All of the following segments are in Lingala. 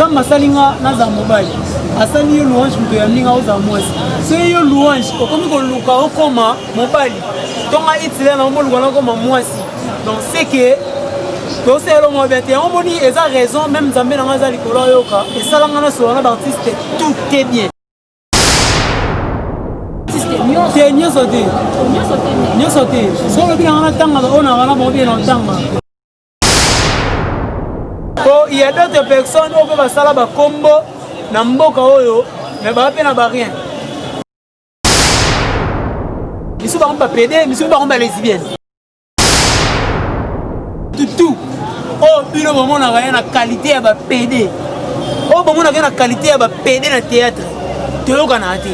nzambe asali nga nazala mobali asali yo louange moto ya ndinga ozala mwasi soki yo louange okomi koluka okoma mobali tonga itila na omoluka nakoma mwasi donc seke tosala elongo mabe te yango omoni eza raison meme nzambe na ngai aza likolo ayoka esala ngai nasola na baartiste tout te bien te nyonso te nyonso te so olobi na ngai natangaka oyo na ngai na bango bie na otanga po il y a d'autres personnes oyo mpe basala bakombo na mboka oyo me baa mpe na barien misu bango bapede misu bango balesibienne tutu oyo oh, bino bomonaka ye na kalite ya bapede oyo oh, bomonaka ye na kalite ya bapede na théâtre toyokanaka te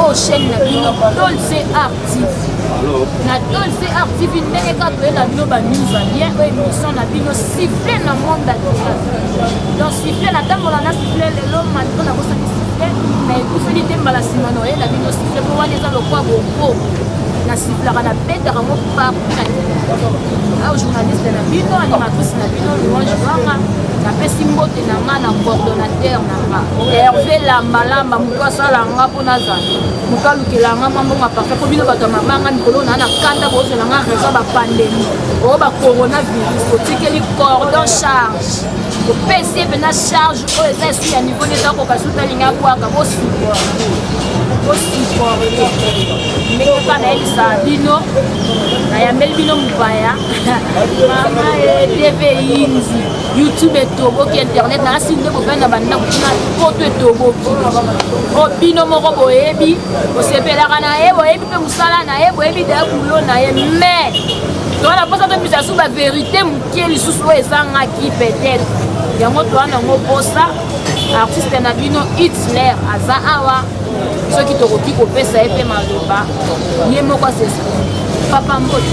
oyo oh, chaîne na bino dolce art tv na dolce art tv ndenge kaka toyela bino banews alien oyo émission na bino siffle na monde atial donc siffle natambola na siffle lelo mandi mpo nakosaki siffle na ekufeli te mbala nsima na oyela bino siffle mpo wana eza lokwa bongo na sifflaka na betaka ngo partout na au journaliste na bino animatrice na bino louange wanga napesi mbote na nga na coordonnateur herve lambalamba moto asala nga mpo nazala moto alukela nga mambonga parfait mpo bino bato ya mabanga mikolo naa na kanda bozela nga raison bapandemi oyo bacoronavirus otikeli cordon charge opesi ye mpenza charge oyo eza esi ya niveau nde ezakoka suta alinga bwaka bosupporte bosupporte ndenge epa nayebisa bino nayambeli bino mopaya mama edeve yindi youtube etoboki internet na asi nde bobani na bandako kuna poto etoboki o bino moko boyebi bosepelaka na ye boyebi mpe mosala na ye boyebi daya bulo na ye mais toa na mposa tobisa lisusu baverité moke lisusu oyo ezangaki peut-être yango toa nango mposa artiste na bino hitler aza awa soki tokoki kopesa ye mpe maloba ye moko asesa papa mbote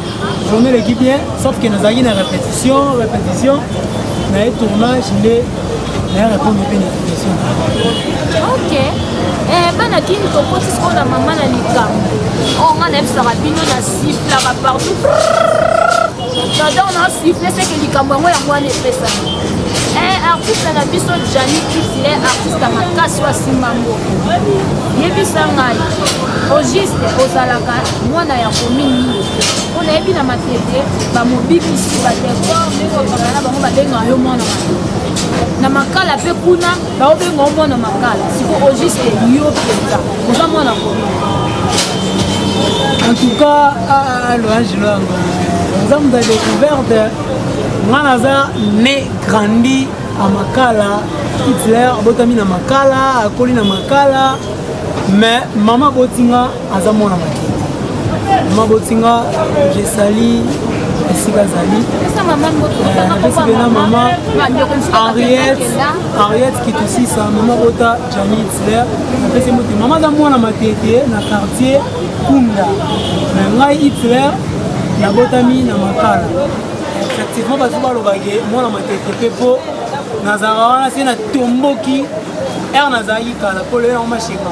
Journée eleki bien sauf que nazalaki na répétition répétition na ye tournage nde naya répondre mpe na question ok eh, bana kini tokoti sikoyo na mama na likambo o oh, nga nayebisaka bino na siflaka partout jador na sifle seke likambo yango yango wana epesami eh, artiste na biso jani kitile artiste makasi oyo asimba mboko yebisa ngai au juste ozalaka mwana ya commune nini mpo nayebi na matete bamobimisi badekor ndenge okanga na bango babengaka yo mwana matete na makala mpe kuna baobenga yo mwana makala siko au juste yo mpenza oza mwana commune en tout cas ah, ah, loange loyango oza moto ya découverte nga naza ne grandi a makala hitler abotami na makala akoli na makala mais mama abotinga aza mwana makete mama botinga jesali esika azali napesi mpena mama ariette ariette kitusisa mama bota jani hitler napesi mbote mama aza mwana matete na quartier kunda na ngai hitler nabotami na makala effectivement bato balobake mwana matete mpe mpo nazalaka wana se natomboki ere nazalaki kala mpo lelo yango mashema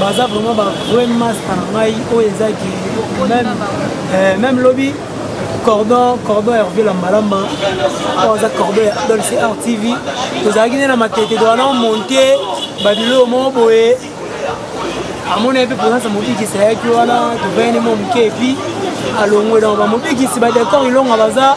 baza vraiment ba vrai masta na ngai oyo eza ki même, euh, même lobi cordon cordon ya revie lambalamba oyo aza cordon ya dolce art tv tozalaki nde na matete towana omonte babiloko moko boye amona ye mpe mponansa mobikisi ayaki wana tovayani mwa moke epi alongwe donc bamobikisi badekor ilonga baza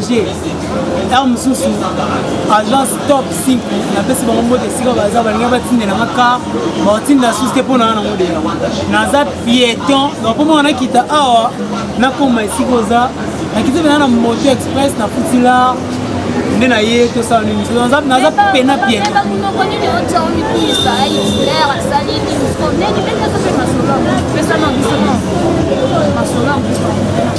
heure mosusu agence top 5 napesi bango mbote esika baza balinga batindela nga kar baotindela susu te mpo na nga nango deya naza pieton donc mpo mona nakita awa nakoma esika oza nakiti pena na moto express na futilar nde na ye tosala nini naza pena pieton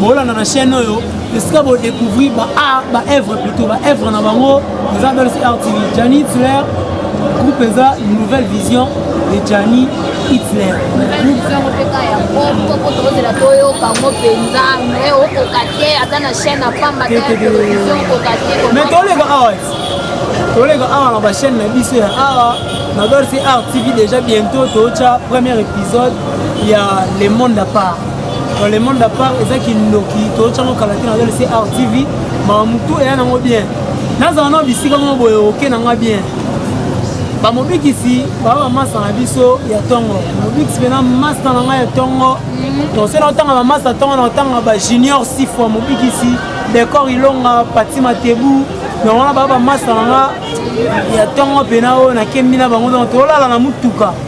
bolanda na chaîne oyo esika bo découvrir ba art ba œuvre plutôt ba œuvre na bango eza belle sur art tv Gianni Hitler groupe eza nouvelle vision de Gianni Hitler mais toleka awa toleka awa na bachaîne na biso ya awa na dorsi art tv déjà bientôt tootya premier épisode ya le monde à part Dans le monde à part, eza kindoki, tocha ngo kala tina zali CR TV, ma mutu eya nango bien. Naza na bisika ngo boye oke na nga bien. Ba mobikisi ba ba masa na biso ya tongo. Mobikisi bena masta na nga ya tongo. Mhm. To sela otanga ba masta tongo na otanga ba junior six fois mobikisi, Decor Ilonga, Pati Matebu, donc wana baa bamasa nanga ya ntongo mpena oyo nakembi na bango donc tolala na motuka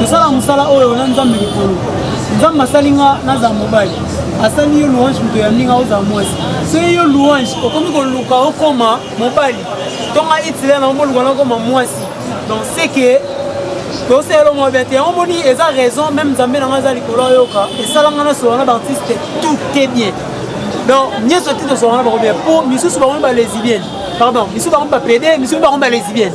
Kosala mosala oyo na Nzambe likolo. Nzambe asali nga nazala mobali. Asali yo louange moto ya ndinga ozala mwasi. Soki yo louange okomi koluka okoma mobali. Tonga itile na omoluka na okoma mwasi. Donc c'est que toseyelo mwa bien te yango moni eza raison meme nzambe na ngai aza likolo ayoka esala ngai nasola na baartiste tout te bien donc nyonso te tosola na bango bien mpo misusu bango balesibienne pardon misusu bango bapede misusu bango balesibienne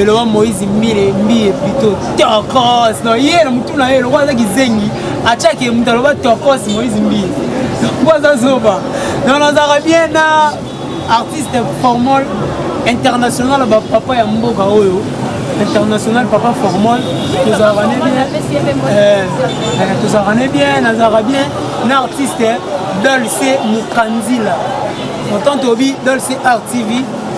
eloba moïse mbile mbiye plito tokos no ye na motu na ye lokola aza kizengi atiaki moto aloba tokos moïse mbile yango aza zoba non nazalaka bien na artiste formol international ya bapapa ya mboka oyo international papa formol tozalaka ne bien eh, eh, tozalaka ne bien nazalaka bien na artiste dolce mokanzila motanto obi dolce art tv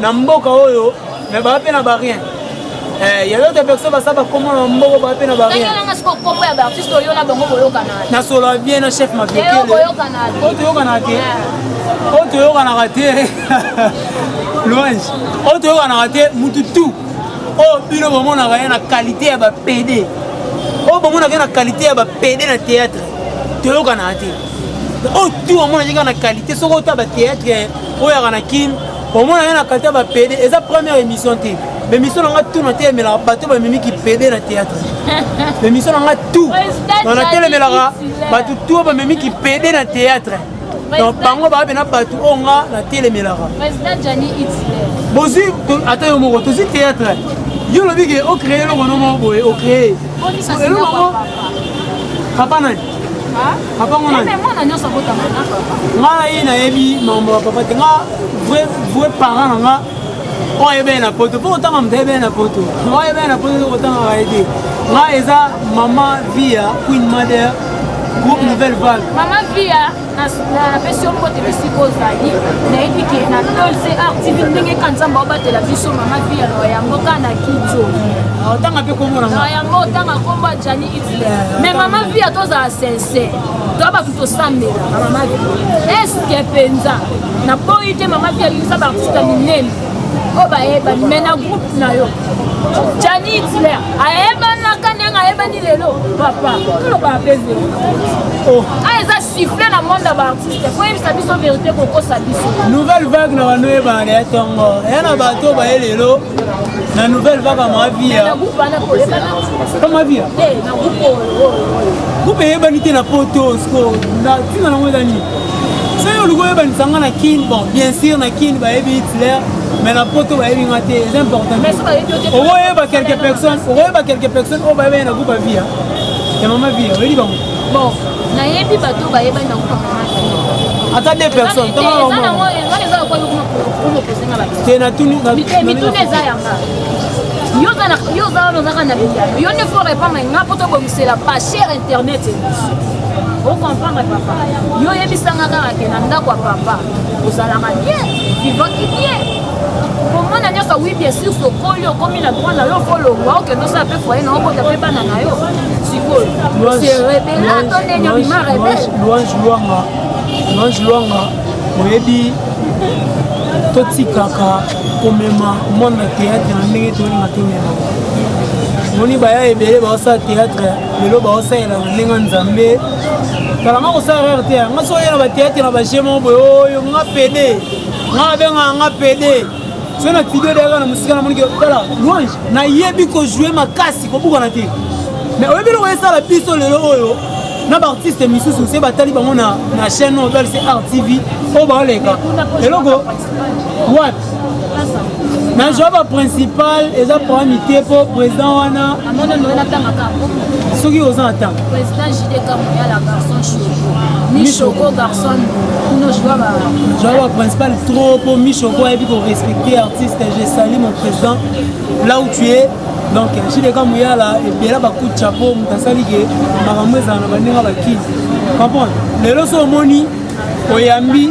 na mboka oyo me baa mpe na barien Eh, ya yote pekisa basaba komo na mboko bape na barenasolola bien na chef mabiokeoyo toyokanaka te oyo toyokanaka te louange oyo toyokanaka te mutu tout oyo bino bomonaka ye na qualité ya bapede oyo bomonaka ye na qualité ya bapede na théâtre toyokanaka te oyo tout omonaka ye kaka na qualité soki ota bathéâtre oyaka na kin omona ye na kalita bapede eza première émission te bemission na nga tu natelemelaka bato bamemi kipede na théâtre bemission na nga tu na natelemelaka bato tu oyo bamemi kipede na théâtre donc bango baa pena bato oyo nga natelemelaka bozwi ata yo moko tozwi théâtre yo olobi ke ocree eloko no moko boye ocree eloko yango papa nani papa ngo nani mwana nyonso abotama na papa nga na ye nayebi mambo ya papa te nga vrai vrai parent na nga oyo ayebele na poto mpo kotanga moto ayebele na poto oyo ayebele na poto kotangaka ye te nga eza mama via queen mother groupe nouvelle vague mama via napesi yo mbote bisika ozali nayebi ke na tolse artv ndenge ka nzambe abatela biso mama vi ya loya yango ka na kijo otanga mpe kombo na yango otanga kombo ya jani itle mais mama vi ya tozala sincere toa bato tosambela mama vi eske mpenza naboyi te mama vi ayokisa baartiste minene oyo bayebani me na groupe na yo jani hitler ayebanaka ndenge ayebani lelo papa tolobaka mpe vero oh. a ah, eza siffle na monde ya baartiste koyebisa biso verité kokosa biso nouvelle vague na bano oyebana ya ntongo eya na bato baye lelo na nouvelle vague ya mavia mavia groupe eyebani te na poto siko ntina nango eza nini soki olingi oyebanisa nga na kin bon bien sûr na kin bayebi hitler mais na poto bayebi nga te eza important okoyeba quelque personne okoyeba quelque personne oyo bayebi na groupe ya via ya mama via oyebi bango bon nayebi bato bayebani na groupe ya mama ata deux personnes te natuni mituna eza yanga yo oza wana ozaka na biyano yo nde fo repondre nga poto bomi c'est la pas chère internet émission okomprendre papa yo oyebisanga kaka ke na ndako ya papa ozalaka bien vivaki bien komona nyonso wi bien sur tokoli okomi na droit na yo folongwa okende osala mpe foye na okota mpe bana na yo sikoyo serebela to ndenge obima rebele louange luanga louange luanga oyebi totikaka komema monde na théâtre na ndenge tolinga tomema moni baya ebele baosala théâtre lelo baosalela na ndenge nzambe kalanga kosala rare te nga soki oyela bathéâtre na baje moko boye oyo nga pede nga nabengaka nga pede soki na tidio deaka na mosika na monike tala louange nayebi kojoue makasi kobukana te mais oyebi loko esala biso lelo oyo na baartiste misusu se batali bango na chaîne oyo balise rtv oyo baoleka eloko wapi na joa ba principal eza problème te mpo président wana soki oza na ntango joa ba principal trop mpo michoko ayebi korespecte artiste je sali mon président là où tu es donc jideka moyala ebela bakuti chapeau moto asali ke makambo ezala na bandenge bakili comprendre lelo so omoni oyambi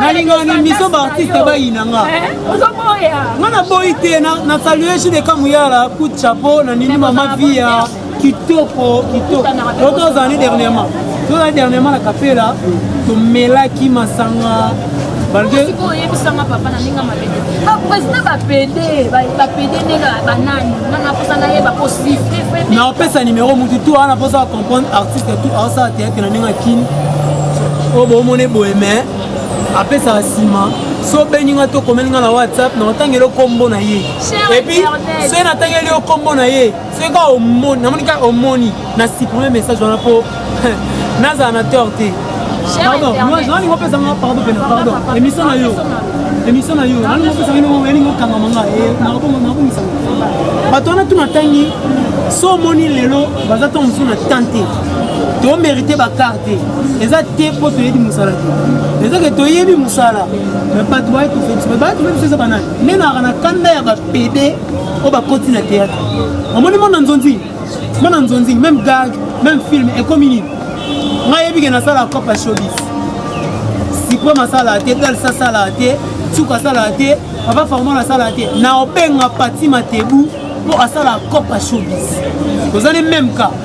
nalingaka na émission baartiste bayina nga nga naboyi te na salue jude kamuyala coup de chapeau na nini mama via kitoko kitoko oto ozali dernièrement tozali dernièrement na kapela tomelaki masanga oyebisanga papa na ndenge mabete baprésident bapede bapede ndenge banani nga naposa nayeba kosifre na opesa nimero motu tu wana mposa bacomprendre artiste tu aosala te na ndenge ya kini oyo bomona eboye me apesaka nsima so obengi ngai to okomeli ngai na whatsapp na otangeli yo nkombo na ye epuis soki natangeli yo nkombo na ye soki kaka omoni namoni kaka omoni na supprime message wana mpo nazala na tor te pardon nalingo opesa nga pardon pena pardon émission na yo émission na yo nalingo opesa nga elingo okangama nga eh, nakobongisa bato wana tu natangi so omoni lelo baza ntango mosusu na tan te to mérite ba carte eza te po toyebi musala te eza ke toyebi musala mais bato baye tofeti mais baye tofeti eza banani nde naka na kanda ya bapede oyo bakoti na théâtre omoni mwana nzonzi mwana nzonzi même gag même film ekomi nini ngai yebi ke nasala copa shobis supreme asala te dals asala te suka asala te papa farmon asala te na obenga pati matebu mpo asala copa shobis tozali meme cas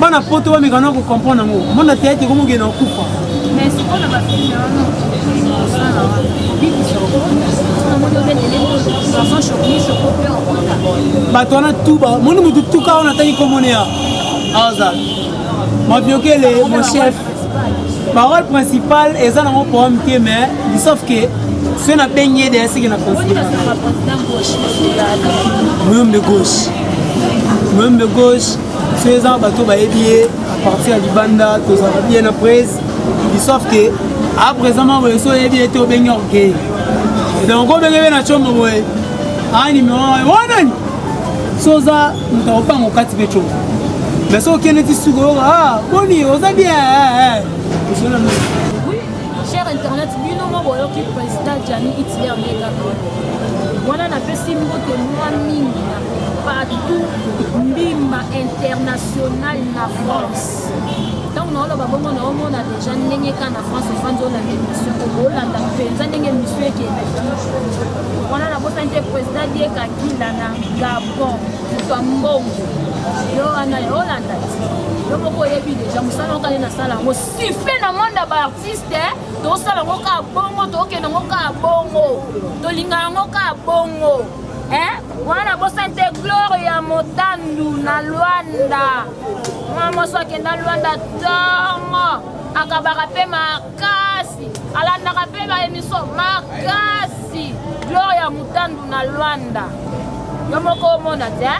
bana poto bameka na kocomprendre yango mona teyate komokende okufa bato wana tu moni motu tuka wana atangi komoneya aza maviokele mon chef Parole principale eza nango poème te mais sauf que soki nabengi ye deya seke na moyombe gauche moyombe gauche so eza bato bayebi ye apartir ya libanda tozalaka bien na prise sauf que a présent ma boye so oyebi ye te obengi orgueil donc obenge be na combo boye a numero wanani so oza moto akopanga okati mpe congo mais soki okende ti suka oyoka ah, boni oza bien eh, eh, cher internet bino moko boyoki président jani hitler nde kaka wana napesi mbote mwa mingi na partout mbimba international na france ntango naoloba bongo naomona deja ndenge ka na france ofandi olanda émission okolanda mpenza ndenge émission ekendaki wana nabosani te président diekakila na gabo bon moto ya mbongo yo wana yo olanda ti yo moko oyebi deja mosala okali nasala yango sife na monde ya baartiste tosala yango kaka bongo tokokende yango kaka bongo tolinga yango kaka bongo wana bosani te glore ya motandu na lwanda mwa moso akenda lwanda tongo akabaka mpe makasi alandaka mpe ba emission makasi gloria mutandu na lwanda yo moko omona te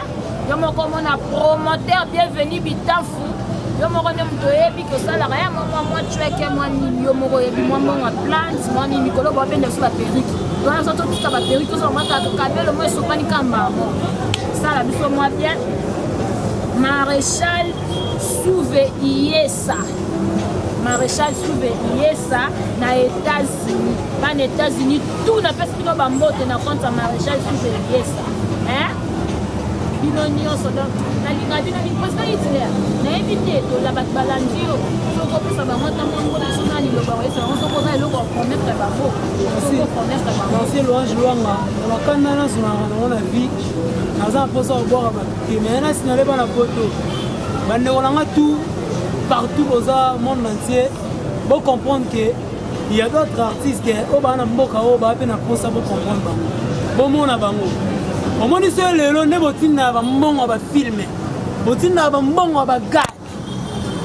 yo moko omona promoteur bienvenu bitanfu yo moko nde moto oyebi kosalaka ya mwa mwa cweke mwa nini yo moko oyebi mwa mbongo ya plante mwa nini mikolo bwa bende biso baperike wana so totika baperike tozala mwa kaka kabelo mwa esopani ka mbango sala biso mwa bien maréchal souve iyes sa maréchal souve yesa na états-unis bana états-unis tout napesi bino bambote na compte ya maréchal souve yesa bino nyonso donc nalinga bino mingi président hitler nayebi te tola bato balandi yo soki opesa bango ntango yango biso na liloba oyesa bango soki oza eloko okometre bango soki okometre bangosi loange lwanga na bakanda nyonso na yango na vie naza na mposa kobwaka bato te mais nasi naleba na poto bandeko na nga tout partout boza monde entier bocomprendre ke ya d'autres artistes oyo oh, baa na mboka oyo oh, baa mpe na mposa bocomprendre bango bomona bango omoni so lelo nde botindaka bambongo ya bafilme botindaka bambongo ya bagade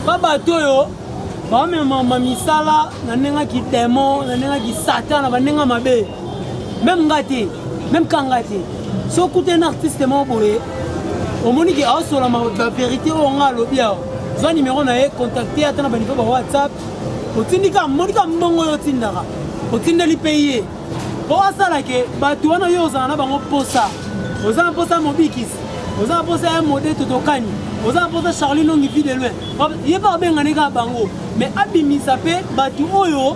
ba bato oyo bamemama misala na ndenge ya kidemo na ndenge ya kisatan na bandenge ya mabe meme nga te meme kanga te so okuta na artiste moko boye omoni ke aosola baverité oyo nga alobi awa zwa nimero na ye contacte ata na banivo ba whatsapp otindika moni ka mbongo oyo otindaka otindeli mpe ye mpo asala ke bato wana yo ozala na bango mposa oza na mposa ya mobikisi oza na mposa ya mode totokani oza na mposa charlie longi vie de loin ye mpe abenganeka bango mais abimisa mpe bato oyo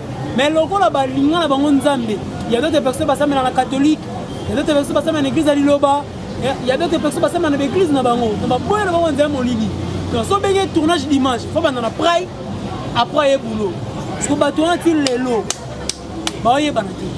mais lokola balinga na bango nzambe ya dote perso basambela na katholike ya dote perso basambela na eglise ya liloba ya dote perso basambela na baeglise na bango na baboya na bango nzela molili donc so benge tournage d'image fo banda na prai après ye boulot parceke bato wana ti lelo baoyebana te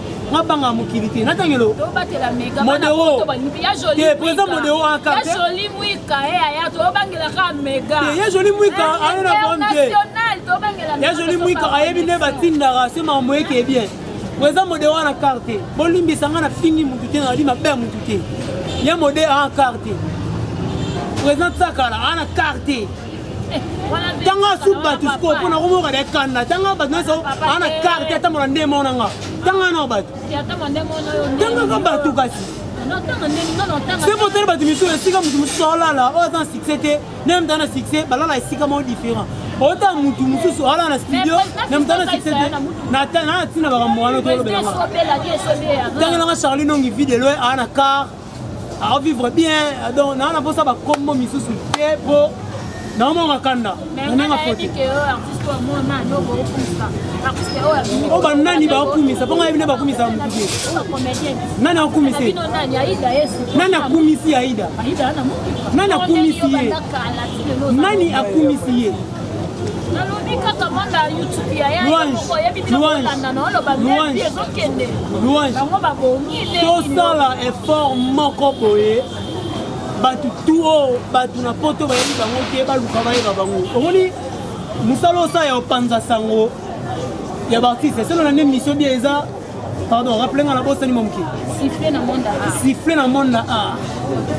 nga banga mokili te natangelo modeo te président modeo akarte ya joli mwika aye na bom te ya joli mwika ayebi nde batindaka se makambo eke bien président modeo ana karte bolimbisa nga na fingi motu te nali mabe ya motu te ya mode ana karte président tsakala ana karte tanga suku bato sikoyo mpo nakomoka na ekanda tanga bato nyonso aa na karte atambola nde mona nga tanga nao bato tangaka bato kasi sebo tali bato misusu esika moto mosusu aolala oyo aza na succès te na moto aza na succès balala esika moko différent ota motu mosusu alala na studio na moto ana succès te na ntina bakambo wana tolobelanga ntangelanga charli nongi vide loye aa na car a vivre bien donc naa na mposa bakombo misusu te mpo naomanga kanda nananga fote o banani bakumisa mpo ngai bino bakumisa motuke nani akumisa ye nani akumisi aida nani akumisi ye nani akumisi ye tosala effort moko boye bato tu oyo bato na poto bayebi bango te baluka bayeba bango omoni mosala osala ya opanza sango ya baartiste eselo na nde mission bie eza pardon rappele nga nabosani mwa moke siffle na monde a siffle na monde a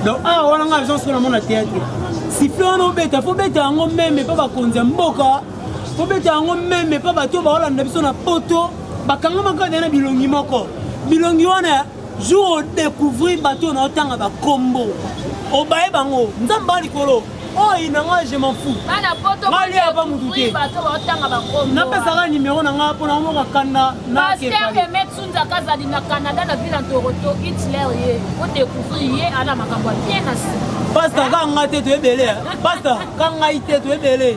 donc a wana nga agence ko na monde théâtre siffle wana obeta fo beta yango meme mpe bakonzi ya mboka fo beta yango meme mpe bato baolanda biso na poto bakangamaka na bilongi moko bilongi wana jour odecouvrir bato oyo naotanga bakombo obaye bango nzambe a likolo oyo na nga je m'en fous ngali ya ba mutu te napesaka nimero na nga mpo na omoka kanda nakepaliazali na canada na ville ntoroto hitler ye odecouvrir ye ana makambo ya bien na sima pasta ka nga te toyebele pasta ka ngai te toyebele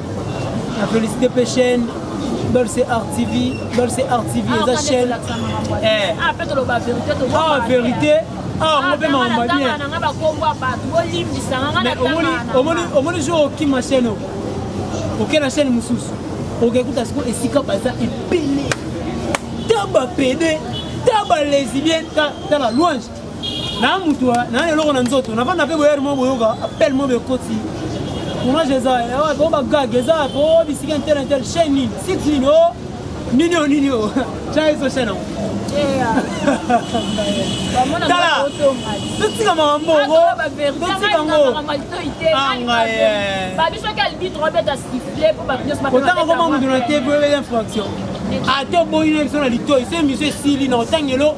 Na felicite pe chaîne Dolce Art TV, Dolce Art TV ah, eza chaîne. Eh. Ah, pe toloba verite to. Ah, verite. Ah, ah ngope maomba bien. Na ngaba kombo ba bolimbisa ngana na tanga. Omoni omoni omoni jour okima chaîne. Okena chaîne mususu. Okekuta siko esika baza epele. Taba pede, taba lesbienne, tala louange. na mutu na eloko na nzoto navanda mpe boyere moko boyoka appel moko ekoti tournage eza wapi o bagag eza wapi o bisika intel intel chaine nini site nini o nini o nini o tya ezo chaine yango tala totika makambo ngo totika ngo kotanga koma moto na te po ebela infraction ate oboyi na biso na litoi so emission esili na otangelo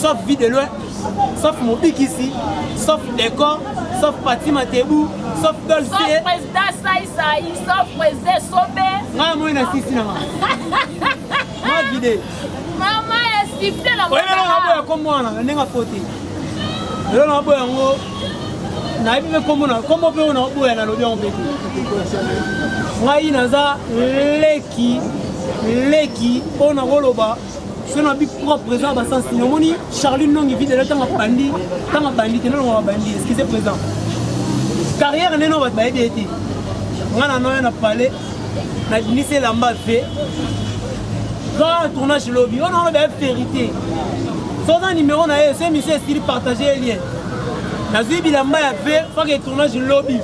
sauf vie de loin sauf mobikisi sauf decor sauf pati matebu sauf dolce président saisai sauf président sobe ngai moi na sisi na nga ma vide mama ya sifle na oyebelonaboya kombo wana na ndenge afote lelo naboya yango nayebi mpe kombo na kombo mpe oyo naoboya nalobi yango mpe ngai naza leki leki mpo nakoloba soki nabi propre eza ba sens nini omoni charline nongi vide lelo ntango abandi ntango abandi te nolongo babandi excuse présent carrière nde no bato bayebi ye te ngai na noya na palais nabimisi elamba ve grand tournage lobi oyo naoloba ya vérité soza numéro na ye so émission esili partage ye lien nazwi bilamba ya ve faka etournage lobi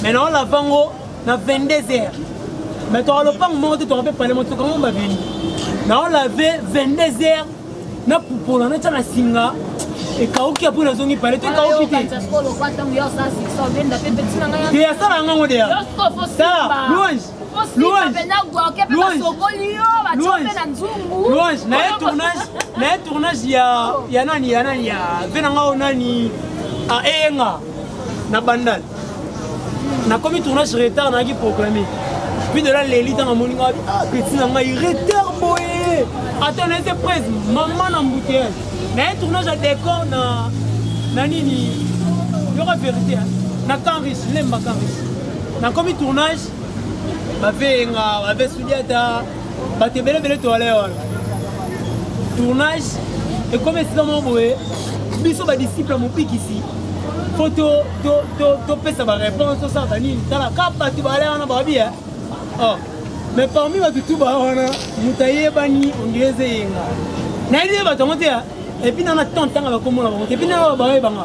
mais naolavango na 22 heures mais toka lopango moko te toka mpe pale motoka ngo babeli naolave 22 heures na pupola natya na singa ekauki ya mpo nazongi pale to ekauki te te asala yango yango deya sala louange louange naye tournage naye tournage ya nani ya nani ya ve na ngao nani aeyenga na bandal nakomi tournage retard nayaki proclame puis de la leli ntango amoni ngai ah, peti na ngai retard boye ata naete prise mama na mbuteyage naye tournage ya décor na na nini yoka vérité na canris lemba canris nakomi tournage baveyenga bavesudi ata bato ebele ebele toale wana tournage ekomi esika moko boye biso badisciple ya mobikisi mpo topesa baréponse tosala banini tala ka bato baale wana babi e oh. mais parmi bato tu ba wana moto ayebani ondire eze eyenga nayebi bato yango te epuis nana temps ntanga bakomona bango te epuis nana babayebanga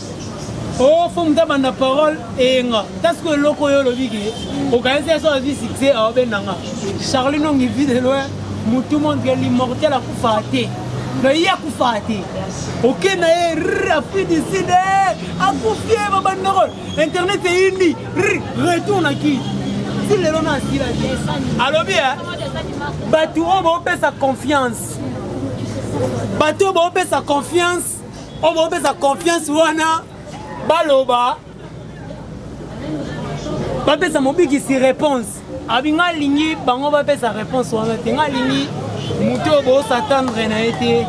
Oh, faut muta banda parole eyenga tasiko eloko oyo olobi ke okanisi ya soki azwi succès aobendanga charli nongi vie de loin mutu montre l'immortel akufaa te na ye akufaa te oke na ye r afri du sud akufi ye babandako internet eyindi r retour na ki ti lelo na asila te alobi e bato oyo baopesa confiance bato oyo baopesa confiance oyo bopesa confiance wana baloba bapesa mobikisi réponse abi nga alingi bango bapesa réponse wana te nga alingi moto oyo bosatandre na ye te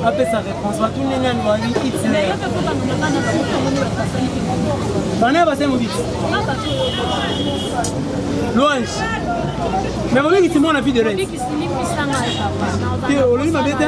apesa réponse bato ndenge ani wabi hitler bana ya basali mobiki louange mais mobikisi mwana fille de rete te olobi mabe te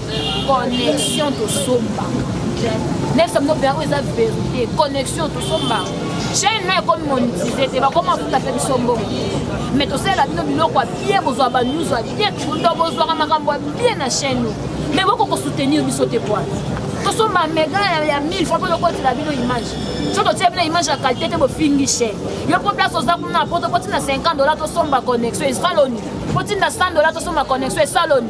connexion tosomba nefsa bino mpe yango eza verité connexion tosomba chaine na ekomi monitize te bakoma futa mpe biso mbongo mais tosalela bino biloko ya bien bozwa banews ya bien kundo bozwaka makambo ya bien na chaine oyo mais boko kosoutenir biso te poa tosomba mega ya 1000 fois mpo tokotela bino image so totia bino image ya qualité te bofingi chaine yo mpo place oza kuna na poto mpo ntina 50 dola tosomba connexion esaloni mpo ntina 100 dola tosomba connexion esaloni